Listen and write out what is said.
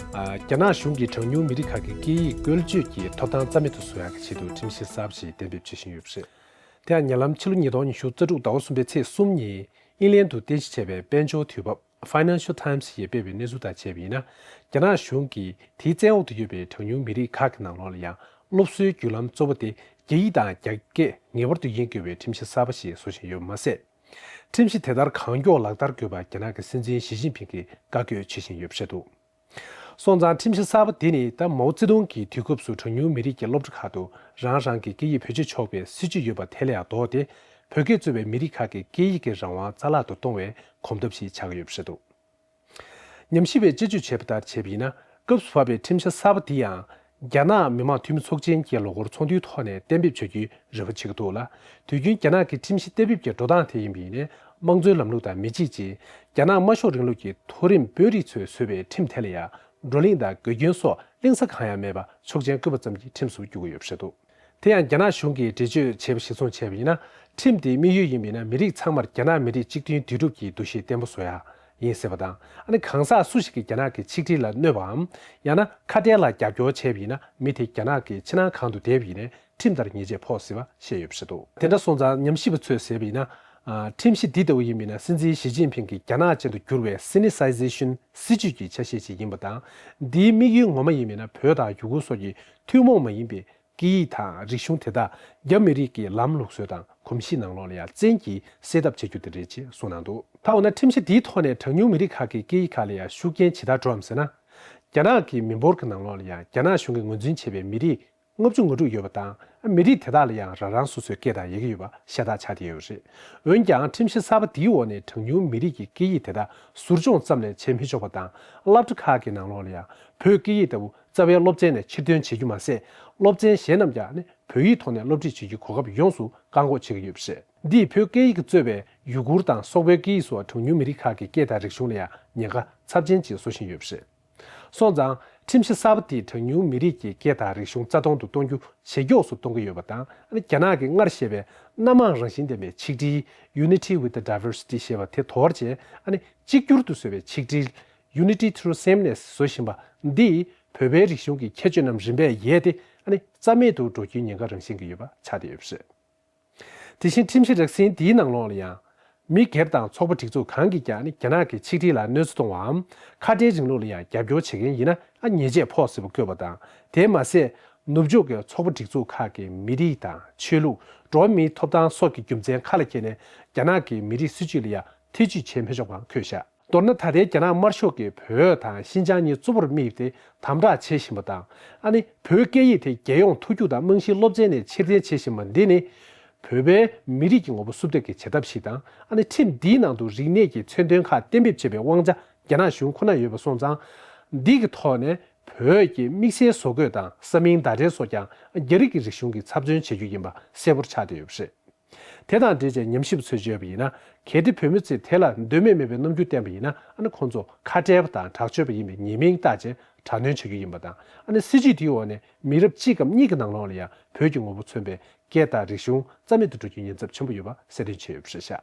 རྒྱ་ནག་གཞུང་གིས་གྲངས་ཉུང་མི་རིགས་ཁག་གི་སྐད་ཡིག་བཀོལ་སྤྱོད་ཀྱི་ཐོབ་ཐང་རྩ་མེད་དུ་བཟོ་ཡག་གི་ཆེད་དུ་ཁྲིམས་གཞི་གསར་བ་ཞིག་གཏན་འབེབས་བྱེད་བཞིན་ཡོད་པ་རེད། དེ་ཡང་ཉེ་ལམ་ཕྱི་ལོ་ཉིས་སྟོང་ཉི་ཤུ་རྩ་དྲུག་ཟླ་བ་གསུམ་པའི་ཚེས་གསུམ་ཉིན་དབྱིན་ལན་དུ་རྟེན་གཞི་བྱས་པའི་དཔལ་འབྱོར་དུས་བབ Financial Times ཞེས་སྤེལ་བའི་གནས་ཚུལ་དང་བཅས་པ་ཡིན་ན་རྒྱ་ནག་གཞུང་གིས་དེའི་བཙན་འོག་ཏུ་ཡོད་པའི་གྲངས་ཉུང་མི་རིགས་ཁག་གི་ནང་ལོགས་ལ་ཡང་སློབ་གསོའི་བརྒྱུད་ལམ་གཙོ་བོ་དེ་རྒྱ་ཡིག་དང་རྒྱ་སྐད་ངེས་པར་དུ་ཡིན་དགོས་པའི་ཁྲིམས་གཞི་གསར་བ་ཞིག་བཟོ་བཞིན་ཡོད་པ་མ་ཟད། ཁྲིམས་གཞི་དེ་ལྟར་གང་མགྱོགས་ལག་བསྟར་དགོས་པར་རྒྱ་ནག་གི་སྲིད་འཛིན་ཞི་ཅིན་ཕིང་གིས་བཀའ་བཀྱོད་བྱེད་བཞིན་ཡོད་པ་བཤད་འདུག་སོང་ཙང་ཁྲིམས་གཞི་གསར་པ་དེ་ནི་ད་མའོ་ཙེ་ཏུང་གི་དུས་སྐབས་སུ་གྲངས་ཉུང་མི་རིགས་ཀྱི་སློབ་གྲྭ་ཁག་ཏུ་རང་རང་གི་སྐད་ཡིག་བེད་སྤྱོད་ཆོག་པའི་སྲིད་ཇུས་ཡོད་པ་དེ་ལས་ཡང་ལྡོག་སྟེ་བོད་སྐད་གཙོས་པའི་མི་རིགས་ཁག་གི་སྐད་ཡིག་གི་རང་དབང་རྩ་བརླག་ཏུ་གཏོང་བའི་གོམ་སྟབས་ཤིག་ཆགས་ཡོད་པ་བཤད་འདུག། ཉམས་ཞིབ་པའི་དཔྱད་བརྗོད་བྱས་པ་ལྟར་བྱས་པ་ཡིན་ན་སྐབས་སུ་བབ་པའི་ཁྲིམས་འཆར་གསར་པ་འདི་ཡང་རྒྱ་ནག་མི་མང་འཐུས་མི་ཚོགས་ཆེན་གྱི་ལོ་འཁོར་ཚོགས་འདུའི་ཐོག་ནས་གཏན་འབེབས་བྱ་རྒྱུའི་རེ་བ་བྱེད་ཀྱི་འདུག་ལ་དུས་རྒྱུན་རྒྱ་ནག་གི་ཁྲིམས་གཞི་གཏན་འབེབས་ཀྱི་འགྲོ་སྟངས་དེ་ཡིན་པ་ཡིན་ནས་དམངས་གཙོའི་ལམ་ལུགས་དང་མི་གཅིག་ཅིང་རྒྱ་ནག་དམར་ཤོག་རིང་ལུགས་ཀྱི་མཐོ་རིམ་དཔོན་རིགས་ཚོས་བཟོས་པའི་ཁྲིམས་དེ་ལ་ཡང་བགྲོ་གླེང་དང་དགེ་སྐྱོན་སོགས་གླེང་ས་གང་ཡང་མེད་པ་ཆོག་མཆན་བཀོད་པ་ཙམ་གྱི་ཁྲིམས་སུ་འགྱུར་གྱི་ཡོད་པ་རེད་འདུག། དེ་ཡང་རྒྱ་ནག་གཞུང་གིས་འདྲི་གཅོད་བྱས་པ་གཞིར་བཟུང་བྱས་པ་ཡིན་ན་ཁྲིམས་དེའི་དམིགས་ཡུལ་ཡིན་པས་ན་མི་རིགས་ཚང་མར་རྒྱ་ནག་མི་རིགས་གཅིག་མཐུན་འདུས་གྲུབ་ཀྱི་འདུ་ཤེས་བརྟན་པོ་བཟོ་ཡ་ཡིན་ཟེར་བ་དང་ཨ་ནི་གང་ཟག་སུ་ཞིག་གིས་རྒྱ་ནག་གི་ཆིག་སྒྲིལ་ལ་གནོད་པའམ་ཡང་ན་ཁ་བྲལ་ལ་རྒྱབ་སྐྱོར་བྱས་པ་ཡིན་ན་མི་དེ་རྒྱ་ནག་གི་ཕྱི་ནང་གང་དུ་བསྡད་པ་ཡིན་ནས་ཁྲིམས་ལྟར་ཉེས་ཆད་ཕོག་སྲིད་པ་བཤད་ཡོད་པ་རེད་དོ། དེ་འདྲ་སོང་ཙང་ཉམས་ཞིབ་པ་ཚོས་ཟེར་བ་ཡིན་ན། ཁྲིམས་གཞི་འདི་ལྟ་བུ་ཡིན་པས་ན་སྲིད་འཛིན་ཞི་ཅིན་ཕིན་གྱི་རྒྱ་ནག་ཅན་དུ་འགྱུར་བའི Sinicization སྲིད་ཇུས་ཀྱི་ཆ་ཤས་ཤིག་ཡིན་པ་དང་འདིའི་དམིགས་ཡུལ་ངོ་མ་ཡིན་པས་ན་བོད་དང་ཡུ་གུར་སོགས་ཀྱི་ཐུན་མོང་མ་ཡིན་པའི་སྐད་ཡིག་དང་རིག་གཞུང་དེ་དག་རྒྱ་མི་རིགས་ཀྱི་ལམ་ལུགས་སྲོལ་དང་གོམས་གཤིས་ནང་ལོགས་ལ་ཡ་མཚན་གྱིས་སེལ་ཐབས་བྱེད་རྒྱུ་དེ་རེད་ཅེས་གསུངས་གནང་འདུག། ད་འོ་ན་ཁྲིམས་གཞི་འདིའི་ཐོག་ནས་གྲངས་ཉུང་མི་རིགས་ཁག་གི་སྐད་ཡིག་ཁག་ལ་ཡང་ཤུགས་རྐྱེན་ཇི་ལྟར་འགྲོའམ་ཟེར་ན། རྒྱ་ནག་གི་མི་འབོར་གྱི་ནང་ལོགས་ལ་ཡང་རྒྱ་ནག་གཞུང་གིས་ངོས་འཛིན་བྱས་པའི་མི་རིགས་ལྔ་བཅུ་ང་དྲུག་ཡོད་པ་དང་མི་རིགས་དེ་དག་ལ་ཡང་རང་རང་སོ་སོའི་སྐད་དང་ཡི་གེ་ཡོད་པ་ཤ་སྟག་ཆགས་བསྡད་ཡོད་རེད། འོན་ཀྱང་ཁྲིམས་གཞི་གསར་པ་འདིའི་འོག་ནས་གྲངས་ཉུང་མི་རིགས་ཀྱི་སྐད་ཡིག་དེ་དག་ཟུར་སྦྱོང་ཙམ་ལས་བྱེད་མི་ཆོག་པ་དང་བསླབ་གྲྭ་ཁག་གི་ནང་ལོགས་ལ་ཡང་བོད་སྐད་ཡིག་ལྟ་བུ་རྩ་བའི་སློབ་ཚན་ནས་ཕྱིར་འཐོན་བྱེད་རྒྱུ་མ་ཟད་སློབ་ཚན་གཞན་རྣམས་ཀྱང་ནི་བོད་ཡིག་ཐོག་ནས་སློབ་ཁྲིད་བྱེད་རྒྱུའི་གོ་སྐབས་ཡོངས་སུ་བཀག་འགོག་བྱེད་ཀྱི་ཡོད་པ་རེད། འདིས་བོད་སྐད་ཡིག་གཙོས་པའི་ཡུ་གུར་དང་སོག་པོའི་སྐད་ཡིག་སོགས་གྲངས་ཉུང་མི་རིགས་ཁག་གི་སྐད་དང་རིག་གཞུང་ལ་ཡང་ཉེན་ཁ་ཚབས་ཆེན་ཅིག་བཟོ་བཞིན་ཡོད་པ་རེད། སོང་ཙང་ཁྲིམས་གཞི་གསར་པ་དེས་གྲངས་ཉུང་མི་རིགས་ཀྱི་སྐད་དང་རིག་གཞུང་རྩ་སྟོང་དུ་གཏོང་རྒྱུ་ཇེ་མགྱོགས་སུ་གཏོང་གི་ཡོད་པ་དང་རྒྱ་ནག་གིས་སྔར་བཤད་པའི་སྣ་མང་རང་བཞིན་ལྡན་པའི་ཆིག་སྒྲིལ Unity with Diversity ཞེས་པ་དེ་དོར་བྱས་ནས་གཅིག་གྱུར་དུ་བཟོས་པའི་ཆིག་སྒྲིལ Unity Through Sameness བཟོ་བཞིན་པ་འདིས་བོད་པའི་རིག་གཞུང་གི་ཁྱད་ཆོས་རྣམས་རིམ་པས་ཡལ་ཏེ་རྩ་མེད་དུ་འགྲོ་རྒྱུའི་ཉེན་ཁ་རང་བཞིན་གྱིས་ཡོད་པ་ཆགས་བསྡད་ཡོད་པ་རེད། དེ་བཞིན་ཁྲིམས་གཞི་རགས་ཟིན་འདིའི་ནང་ལོགས་ལ་ཡང། མི་སྒེར་དང་ཚོགས་པ་སྒྲིག་འཛུགས་གང་གིས་ཀྱང་རྒྱ་ནག་གི་ཆིག་སྒྲིལ་ལ་གནོད་འཚེ་གཏོང་བའམ་ཁ་བྲལ་རིང་ལུགས་ལ་ཡང་རྒྱབ་སྐྱོར་བྱེད་མཁན་ཡིན་ན་ཉེས་ཆད་ཕོག་སྲིད་པ་བཀོད་པ་དང་དེས་མ་ཟད། ནུབ་ཕྱོགས་ཀྱི་ཚོགས་པ་སྒྲིག་འཛུགས་ཁག་གིས་མི་རིགས་དང་ཆོས་ལུགས་འགྲོ་བ་མིའི་ཐོབ་ཐང་སོགས་ཀྱི་རྒྱུ་མཚན་ཁ་ལ་འཁྱེར་ནས་རྒྱ་ནག་གི་མི་རིགས་སྲིད་ཇུས་ལ་ཡང་ཐེ་ཇུས་བྱེད་མི་ཆོག་པའང་འཁོད་བཞག་མདོར་ན་ད་ལྟའི་རྒྱ་ནག་དམར་ཤོག་གིས་བོད་དང་ཤིན་ཅང་གཉིས་གཙོ་བོར་དམིགས་ཏེ་དམ་དྲག་བྱེད་བཞིན་པ་དང་ཨ་ནི་བོད་སྐད་ཡིག་དེ་རྒྱལ་ཡོངས་མཐོ་རྒྱུགས་དང་རྨང་གཞིའི་སློབ་ཚན་ནས་ཕྱིར་འཐེན་བྱེད་བཞིན་པ་འདི་ནི། བོད་པའི་མི་རིགས་ཀྱི་ངོ་བོ་སུབ་ཐེབས་ཀྱི་བྱེད་ཐབས་ཤིག་དང་ཨ་ནི་ཁྲིམས་འདིའི་ནང་དུ་རིག་གནས་ཀྱི་མཚོན་དོན་ཁག་གཏན་འབེབས་བྱེད་པའི་དབང་ཆ་རྒྱ་ནག་གཞུང་ཁོ་ནར་ཡོད་པ་སོང་ཙང། འདི་གི་ཐོག་ནས་བོད་ཀྱི་དམིགས་བསལ་བཟོ་བཀོད་དང་ས་མིང་བརྡ་འགྲེལ་སོགས་ཀྱང་རྒྱ་རིགས་ཀྱི་རིག་གཞུང་གི་ཚབ་མཚོན་བྱེད་རྒྱུ་ཡིན་པ་གསལ་བོར་ཆགས་བསྡད་ཡོད་པ་རེད། དེ་དང་འབྲེལ་བྱས་ཉམས་ཞིབ་ཚོས་བརྗོད་པ་ཡིན་ན་གལ་ཏེ་བོད་མི་ཚོས་དེ་ལ་འདོད་མོས་མེད་པའི་རྣམ་འགྱུར་བསྟན་པ་ཡིན་ན་ཨ་ནི་ཁོང་ཚོ་ཁ་བྲལ་བ་དང་དྲག་སྤྱོད་པ་ཡིན་པའི་ཉེས་མིང་བཏགས་རྗེས་དྲག་གནོན་བྱ་རྒྱུ་ཡིན་པ་དང་ཨ་ནི་སྲིད་ཇུས་དེའི་འོག་ནས་མི་རབས་གཅིག་གམ་གཉིས་ཀྱི་ནང་ལོགས་ལ་ཡང་བོད་ཀྱི་ངོ་བོ་མཚོན་པའི་སྐད་དང་རིག་གཞུང་རྩ་མེད་དུ་འགྲོ་རྒྱུའི་ཉེན་ཚབས་ཆེན་པོ་ཡོད་པ་གསལ་སྟོན་བྱས་ཡོད་པ་ཤེས་བྱ།